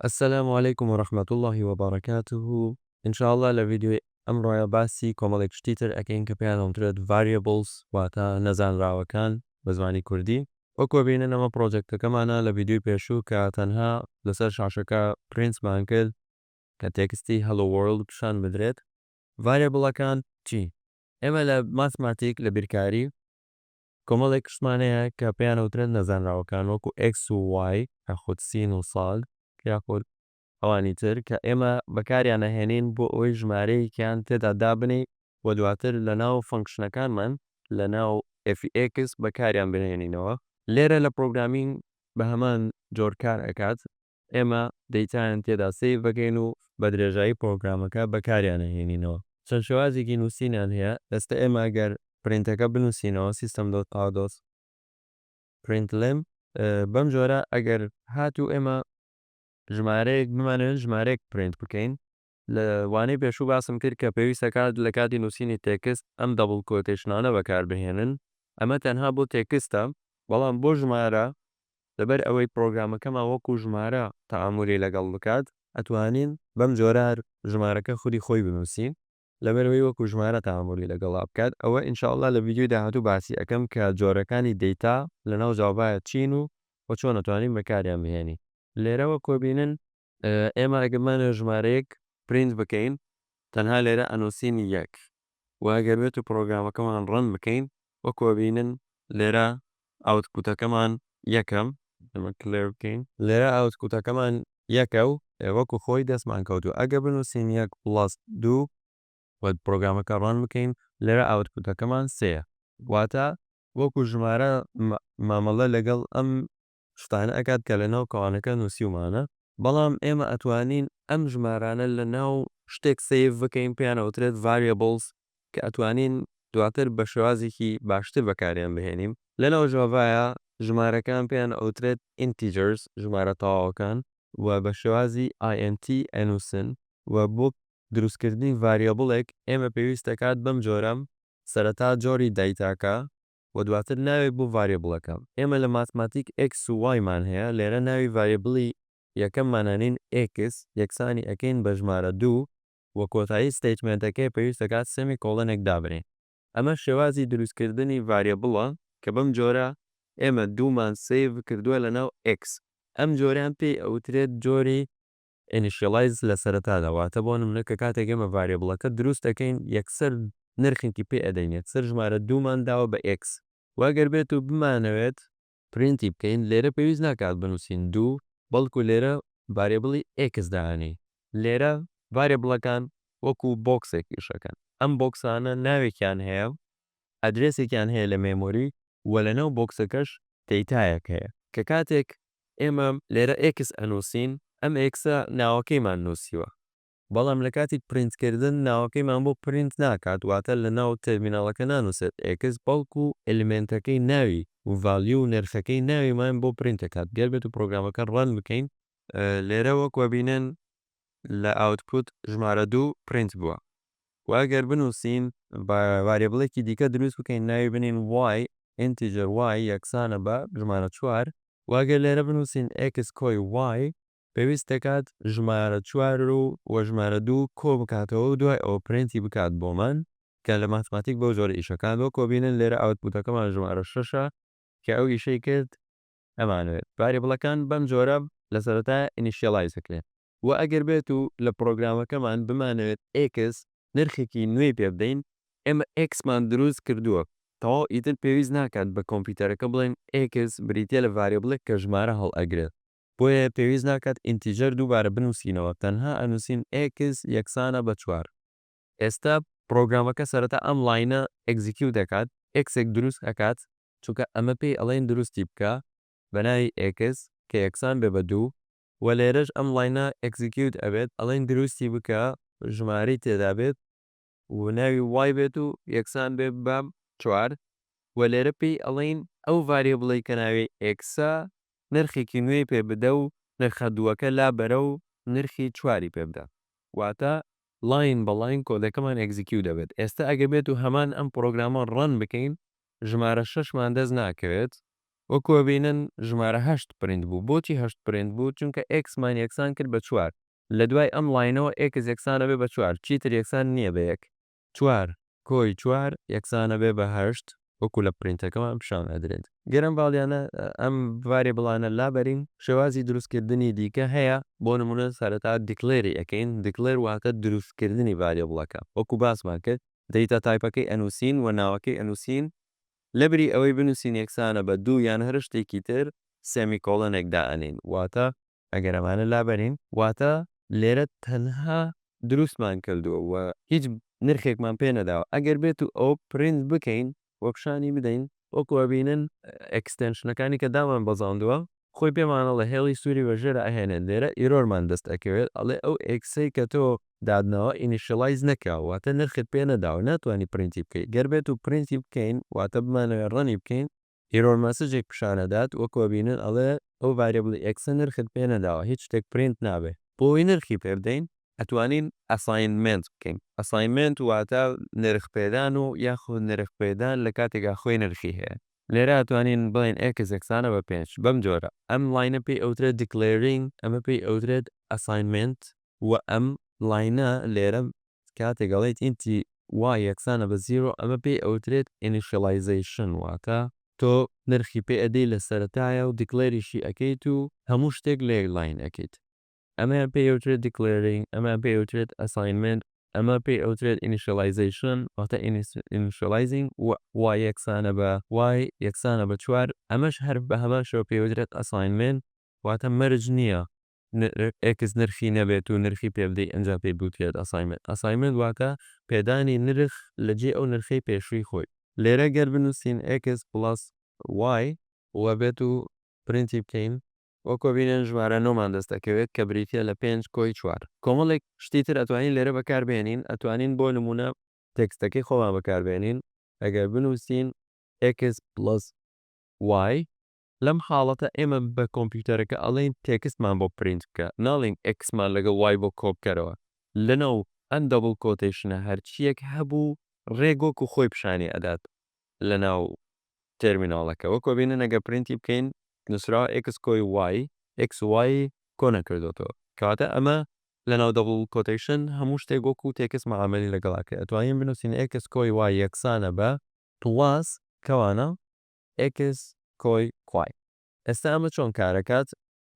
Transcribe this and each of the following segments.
السلام علیکم و رحمە اللە و بەڕەکاتوه ان شاء اللە لە ڤیدیۆی ئەمڕۆیا باسی کۆمەڵێک شتی تر ئەکەین کە پێیان ئەوترێت Variables واتە نەزانراوەکان بە زمانی کوردی وەکوە بینن ئەمە پڕۆجەکتەکەمانە لە ڤیدیۆی پێشوو کە تەنها لەسەر شاشەکە پرینتمان کرد کە تێکستی Hello World پیشان بدرێت Variable ەکان چین؟ ئێمە لە ماتماتیک لە بیرکاری کۆمەڵێک کشتمان هەیە کە پێیان ئەوترێت نەزانراوەکان وەکو ئێکس و وای یاخود سین و ساد یاخود ئەوانی تر کە ئێمە بەکاریان ئەهێنین بۆ ئەوەی ژمارەیەکیان تێدا دابنێین و دواتر لەناو فەنکشنەکانمان لەناو ئێفی ئێکس بەکاریان بهێنینەوە. لێرە لە پرۆگرامینگ بەهەمان جۆر کار ئەکات ئێمە دەیتایان تێدا سەیر دەکەین و بە درێژایی پڕۆگرامەکە بەکاریان ئەهێنینەوە. چەند شێوازێکی نووسینیان هەیە. ئێستا ئێمە گەر پرینتەکە بنووسینەوە، سیستەم دۆت ئاوت دۆت پرینت لێم، بەم جۆرە ئەگەر هاتوو ئێمە ژمارەیەک بمانەوێت ژمارەیەک پرینت بکەین، لە وانەی پێشوو باسم کرد کە پێویستە کات لە کاتی نووسینی تێکست ئەم دەبڵ کۆتێشنانە بەکار بهێنن، ئەمە تەنها بۆ تێکستە، بەڵام بۆ ژمارە لە بەر ئەوەی پرۆگرامەکەمان وەکوو ژمارە تەعامولی لەگەڵ بکات، ئەتوانین بەم جۆرە هەر ژمارەکە خودی خۆی بنووسین لە بەر ئەوەی وەکوو ژمارە تەعامولی لەگەڵا بکات، ئەوە ان شاء اللە لە ڤیدیۆی داهاتوو باسی ئەکەم کە جۆرەکانی دەیتا لە ناو جاڤایا چین و وە چۆن ئەتوانین بەکاریان بهێنین. لێرەوە کۆبینن ئێمە ئەگەر بمانەوێت ژمارەیەک پرینت بکەین تەنها لێرە ئەنوسین یەک وە ئەگەر بێتو پڕۆگرامەکەمان ڕەن بکەین وەکو ئەبینن لێرە ئاوتپوتەکەمان یەکە ئەمە کلێر بکەین لێرە ئاوتپوتەکەمان یەکە و وەکو خۆی دەستمان کەوتوە ئەگەر بنوسین یەک پڵەس دوو وە پڕۆگرامەکە ڕەن بکەین لێرە ئاوتپوتەکەمان سێیە واتە وەکو ژمارە مامەڵە لەگەڵ ئەم شتانە ئەکات کە لەناو کەوانەکە نوسیومانە. بەڵام ئێمە ئەتوانین ئەم ژمارانە لەناو شتێک سەیڤ بکەین پێیان ئەوترێت Variables کە ئەتوانین دواتر بە شێوازێکی باشتر بەکاریان بهێنین. لەناو ژاڤایا ژمارەکان پێیان ئەوترێت Integers ژمارە تەواوەکان و بە شێوازی INT ئەنوسن و بۆ دروستکردنی ڤاریابڵێک ئێمە پێویست دەکات بەم جۆرە سەرەتا جۆری دایتاکە و دواتر ناوێک بۆ ڤاریبڵەکە. ئێمە لە ماتماتیک ئێکس و وای مان هەیە، لێرە ناوی ڤاریبڵی یەکەممان ئەنێین ئێکس، یەکسانی ئەکەین بە ژمارە دوو، و کۆتایی ستەیتمێنتەکەی پێویست دەکات سێمی کۆڵنێک دابنێین، ئەمە شێوازی دروستکردنی ڤاریبڵە کە بەم جۆرە ئێمە دوومان سەیڤ کردووە لەناو ئێکس، ئەم جۆرەیان پێی ئەوترێت جۆری Initialize لە سەرەتادا واتە بۆ نمونە کە کاتێک ئێمە ڤاریبڵەکە دروست دەکەین یەکسەر نرخێکی پێ ئەدەین یەکسەر ژمارە دوو مان داوە بە X وە گەر بێت و بمانەوێت پرینتی بکەین لێرە پێویست ناکات بنوسین دوو بەڵکو لێرە ڤاریبڵی X دانێین. لێرە ڤاریبڵەکان وەکو بۆکسێک ئیش ئەکەن ئەم بۆکسانە ناوێکیان هەیە ئەدرێسێکیان هەیە لە مێمۆری و لەناو بۆکسەکەش دەیتایەک هەیە کە کاتێک ئێمە لێرە ئێکس ئەنووسین ئەم ئێکسە ناوەکەیمان نووسیوە بەڵام لە کاتی پرینت کردن ناوەکەیمان بۆ پرینت ناکات واتە لەناو تێرمیناڵەکە نانووسێت ئێکس بەڵکو ئێلیمێنتەکەی ناوی و ڤالیوو و نرخەکەی ناویمان بۆ پرینت دەکات گەر بێتو پرۆگرامەکە ڕەن بکەین لێرە وەک وەبینن لە ئاوتپوت ژمارە دوو پرینت بووە. وە گەر بنوسین با ڤاریبڵێکی دیکە دروست بکەین ناوی بنین y ئینتیجەر y یەکسانە بە ژمارە چوار. وە گەر لێرە بنوسین x کۆی y پێویست دەکات ژمارە چوار و وە ژمارە دوو کۆ بکاتەوە و دوای ئەوە پرینتی بکات بۆمان کە لە ماتماتیک بەو جۆرە ئیشەکان وەکۆ بینن لێرە ئاوتپوتەکەمان ژمارە شەشە کە ئەو ئیشەی کرد ئەمانەوێت ڤاریبڵەکان بەم جۆرە لە سەرەتایا ئینیشیەڵایز بکرێن و ئەگەر بێت و لە پڕۆگرامەکەمان بمانەوێت ئێکس نرخێکی نوێی پێ بدەین، ئێمە ئێکسمان دروست کردووە تەواو ئیتر پێویست ناکات بە کۆمپیوتەرەکە بڵێین ئێکس بریتیە لە ڤاریبڵێک کە ژمارە هەڵئەگرێت، بۆیە پێویست ناکات ئینتیجەر دووبارە بنووسینەوە تەنها ئەنووسین ئێکس یەکسانە بە چوار. ئێستا پڕۆگرامەکە سەرەتا ئەم ڵاینە ئێگزیکیوت ئەکات ئێکسێک دروست ئەکات چونکە ئەمە پێی ئەڵێین دروستی بکە بە ناوی ئێکس کە یەکسان بێ بە دوو وە لێرەش ئەم ڵاینە ئێگزیکیوت ئەبێت ئەڵێین دروستی بکە ژمارەی تێدا بێت و ناوی وای بێت و یەکسان بێ بە چوار وە لێرە پێی ئەڵێین ئەو ڤاریبڵەی کە ناوی ئێکسە نرخێکی نوێی پێ بدە و نرخە دووەکە لا بەرە و نرخی چواری پێ بدە واتە لاین بە لاین کۆدەکەمان ئێگزیکیو دەبێت ئێستە ئەگەر بێت و هەمان ئەم پڕۆگرامە ڕەن بکەین ژمارە شەش مان دەست ناکەوێت وەکو ئەبینن ژمارە هەشت پرینت بوو بۆچی هەشت پرینت بوو چونکە ئێکس مان یەکسان کرد بە چوار لە دوای ئەم لاینەوە ئێکس یەکسان ئەبێت بە چوار چیتر یەکسان نییە بە یەک. چوار کۆی چوار یەکسانە بێ بە هەشت وەکو لە پرینتەکەمان پیشان ئەدرێت. گەر ئەم ڤالیانە ئەم ڤاریبڵانە لابەرین شێوازی دروست کردنی دیکە هەیە بۆ نمونە سەرەتا دیکلێری ئەکەین دیکلێر واتە دروست کردنی ڤاریبڵەکە وەکو باسمان کرد دەیتا تایپەکەی ئەنوسین وە ناوەکەی ئەنوسین لەبری ئەوەی بنووسین یەکسانە بە دوو یان هەر شتێکی تر، سێمیکۆڵنێک دائەنێین، واتە. ئەگەر ئەمانە لابەرین، واتە لێرە تەنها دروستمان کردووە و هیچ نرخێکمان پێ نەداوە، ئەگەر بێت و ئەوە پرینت بکەین و پیشانی بدەین، وەکو ئەبینن ئێکستێنشنەکانی کە دامانبەزاندووە، خۆی پێمان ئەڵێ هێڵی سوری بەژێرە ئەهێنێت لێرە ئیرۆرمان دەست ئەکەوێت ئەڵێ ئەو ئێکسەی کە تۆ داتناوە ئینیشیڵایز نەکراوە واتە نرخت پێ نەداوە ناتوانی پرینتی بکەی گەر بێتو پرینتی بکەین واتە بمانەوێت ڕەنی بکەین ئیرۆر مەسجێک پیشان ئەدات وەکو ئەبینن ئەڵێ ئەو ڤاریبڵی ئێکسە نرخت پێ نەداوە هیچ شتێک پرینت نابێت بۆ ئەوەی نرخی پێ بدەین ئەتوانین ئەساینمێنت بکەین ئەساینمێنت واتە نرخ پێدان و یاخود نرخ پێدان لە کاتێکا خۆی نرخی هەیە. لێرە ئەتوانین بڵێین ئێکس یەکسانە بە پێنج بەم جۆرە. ئەم لاینە پێی ئەوترێت دیکلێرینگ ئەمە پێی ئەوترێت ئەساینمێنت. وە ئەم لاینە لێرە کاتێک ئەڵێیت ئینتی وای یەکسانە بە زیرۆ ئەمە پێی ئەوترێت ئینیشیڵایزەیشن واتە تۆ نرخی پێ ئەدەی لە سەرەتایە و دیکلێریشی ئەکەیت و هەموو شتێک لە یەک لاین ئەکەیت. ئەمەیان پێی ئەوترێت دیکلێرینگ، ئەمەیان پێی ئەوترێت ئەساینمێنت، ئەمە پێی ئەوترێت ئینیشیەڵایزەیشن واتە ئینیشیەڵایزینگ و وای یەکسانە بە وای یەکسانە بە چوار، ئەمەش هەر بە هەمان شێوە پێی ئەوترێت ئەساینمێنت، واتە مەرج نییە ئێکس نرخی نەبێت و نرخی پێ بدەیت ئەنجا پێی بوترێت ئەساینمێنت، ئەساینمێنت واتە پێدانی نرخ لە جێی ئەو نرخەی پێشووی خۆی. لێرە گەر بنووسین ئێکس پڵەس وای. وەبێت و پرینتی بکەین وەک وەبینن ژمارە نۆ مان دەست دەکەوێت کە بریتیە لە پێنج کۆی چوار کۆمەڵێک شتی تر ئەتوانین لێرە بەکار بێنین ئەتوانین بۆ نمونە تێکستەکەی خۆمان بەکار بێنین ئەگەر بنوسین ئێکس پڵەس وای لەم حاڵەتە ئێمە بە کۆمپیوتەرەکە ئەڵێین تێکستمان بۆ پرینت بکە ناڵێین ئێکسمان لەگەڵ وای بۆ کۆ بکەرەوە لەناو ئەم دەبڵ کۆتەیشنە هەرچیەک هەبوو ڕێک وەکو خۆی پیشانی ئەدات لەناو تێرمیناڵەکە وەکۆ بینن ئەگەر پرینتی بکەین نوسراوە ئێکس کۆی وای ئێکس وای کۆ نەکردۆتەوە کەواتە ئەمە لەناو دەبڵ کۆتەیشن هەموو شتێک وەکو تێکست مەعامەلی لەگەڵ ئەکەی ئەتوانین بنوسین ئێکس کۆی وای یەکسانە بە پڵاس کەوانە ئێکس کۆی وای ئێستا ئەمە چۆن کارەکات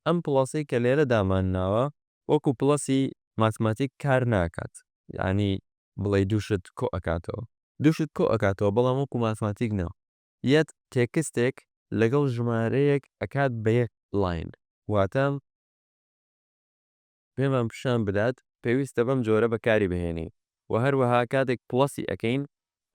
ئەم پڵەسەی کە لێرە دامان ناوە وەکو پڵەسی ماتماتیک کار ناکات یانی بڵێی دوو شت کۆ ئەکاتەوە دوو شت کۆ ئەکاتەوە بەڵام وەکو ماتماتیک نا یەت تێکستێک لەگەڵ ژمارەیەک ئەکات بە یەک ڵاین واتە پێمان پیشان بدات پێویستە بەم جۆرە بەکاری بهێنین وە هەروەها کاتێک پڵەسی ئەکەین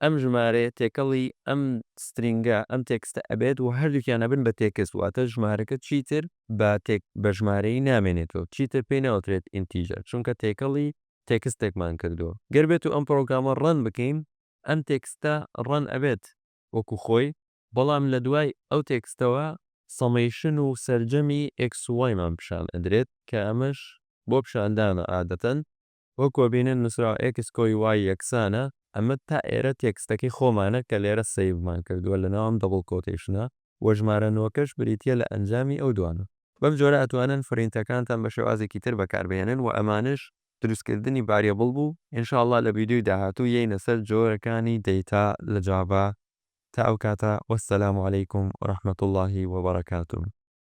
ئەم ژمارەیە تێکەڵی ئەم سترینگە ئەم تێکستە ئەبێت وە هەردووکیان ئەبن بە تێکست واتە ژمارەکە چیتر بە تێک بە ژمارەیی نامێنێتەوە چیتر پێی ناوترێت ئینتیجەر چونکە تێکەڵی تێکستێکمان کردووە گەر بێتو ئەم پڕۆگرامە ڕەن بکەین ئەم تێکستە ڕەن ئەبێت وەکو خۆی، بەڵام لە دوای ئەو تێکستەوە سەمەیشن و سەرجەمی ئێکس و وایمان پیشان ئەدرێت کە ئەمەش بۆ پیشاندانە ئادەتەن وەکو ئەبینن نوسراوە ئێکس کۆی وای یەکسانە ئەمە تا ئێرە تێکستەکەی خۆمانە کە لێرە سەیڤمان کردوە لەناو ئەم دەبڵ کۆتەیشنە وە ژمارە نۆکەش بریتیە لە ئەنجامی ئەو دوانە. بەم جۆرە ئەتوانن فرینتەکانتان بە شێوازێکی تر بەکاربهێنن وە ئەمانەش دروستکردنی ڤاریبڵ بوو ان شاء اللە لە ڤیدیۆی داهاتوو یەینە سەر جۆرەکانی دەیتا لە جاڤا تا ئەو کاتە وەسەلام علیکم ورحمەتوڵڵاهی وبەڕەکاتوو.